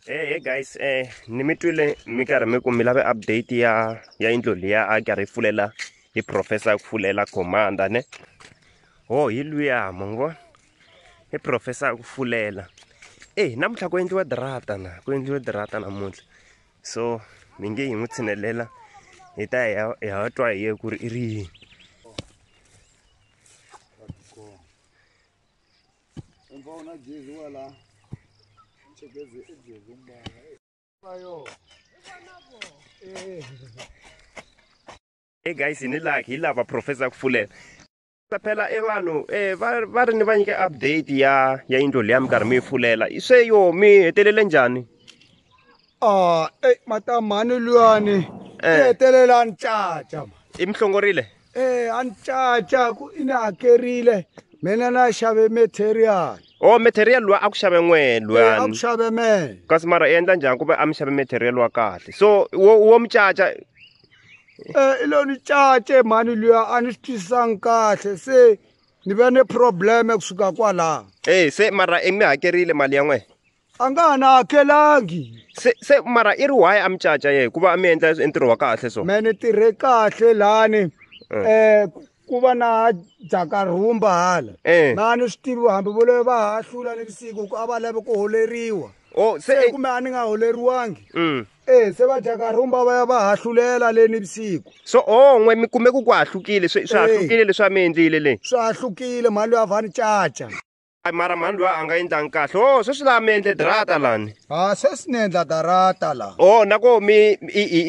Hey, hey guys eh ni mi twile mi karhi mi ku mi lave update ya ya yindlo liya a karhi yi pfulela hi professor ku pfulela commander ne ho oh, hi luya mo ngo hi professor ku pfulela eh namuntlha ku endliwa drata na ku endliwa drata namuntlha so mi nge hi n'wi tshinelela hi ta hi ya twa hi ye ku ri i ri yini e guys ni la hi lava professor ku fulela phela e vanhu um va ri ni va nyike update ya ya yindlo leya mi karhi mi yi fulela se yo mi hetelele njhani ah ey matamani luyani eh. hetelela ni caca i mi hlongorile eh a ni caca ku i ni hakerile mina na xave material o oh, material luwa a ku xave n'we luwani eh, ku xave me kasi mara i endla njhani ku va a mi xave material wa kahle so wo wo mi caca eh i lo ni cace mhani luya a ni swi twisisanga kahle se ni ve ni probleme kusuka kwalaho e se mara i mi hakerile mali ya n'wena a nga ha na hakelangi se se mara i ri why a mi caca ye hikuva a mi endla ntirho wa kahle so me ni tirhe kahle lani um eh. eh, ku va na jaka rhumba hala eh. na ni swi tivi hambi vo leyo va ha hlula ni vusiku ku a va lave ku holeriwa o oh, se kumbe a ni nga holeriwangi mm. e se va jaka rhumba va ya va ha hlulela le ni vusiku so o oh, n'we mi kume ku ku ha hlukile swi ha hlukile leswi a mi endlile le swi ha hlukile mhani loyi a va ni caca Ay mara mhani loyi a nga endlangi kahle o oh, sweswi laha mi endle darata lani a ah, sweswi ni endla darata la o oh, na ko mi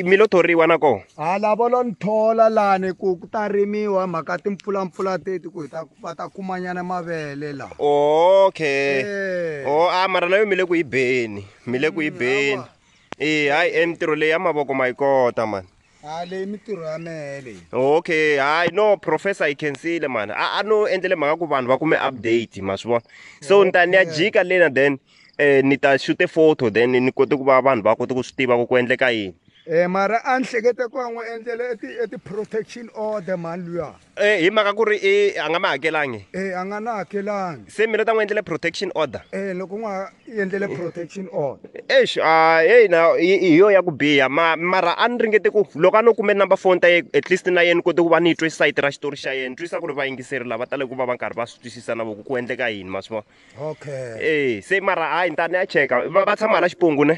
mi lo thoriwa na ko a ah, lavo lo ni thola lani ku ku ta rimiwa mhaka timpfulampfula teti ku hi ta va ta kumanyana mavele la okay eh. o a mara na yo mi le ku yi beni mi le ku yi mm, beni e hayi e mintirho leyi ya mavoko ma yi kota mani ha leyi mitirho ya mehe leyi okay hayi no professor yi khensile mani a a no endlele mhaka ku vanhu va kume update ma swi vona so ni ta ni ya jika lena then um ni ta xute photo then ni kote ku va vanhu va kote ku swi tiva ku ku endleka yini um mara a ni hlekete ku va n'wi endlele e ti-protection e order mani luya Eh, hi mhaka ku ri i a nga ma hakelangi e a nga na hakelangi se mina ta n'wi endlele protection order e loko n'wa endlele protection order exi a heyi na hi yo ya ku biha ma mara a ni ringete ku loko a no kume number phone ta ye at least na yena kote ku va ni yi twe sayiti ra xitori xa yena twisa ku ri vayingiseri lava tale ku va va karhi va swi twisisa na voku ku endleka yini ma swi vona okay e se mara hayi ni ta ni ya cheka va tshama hala xipongu ne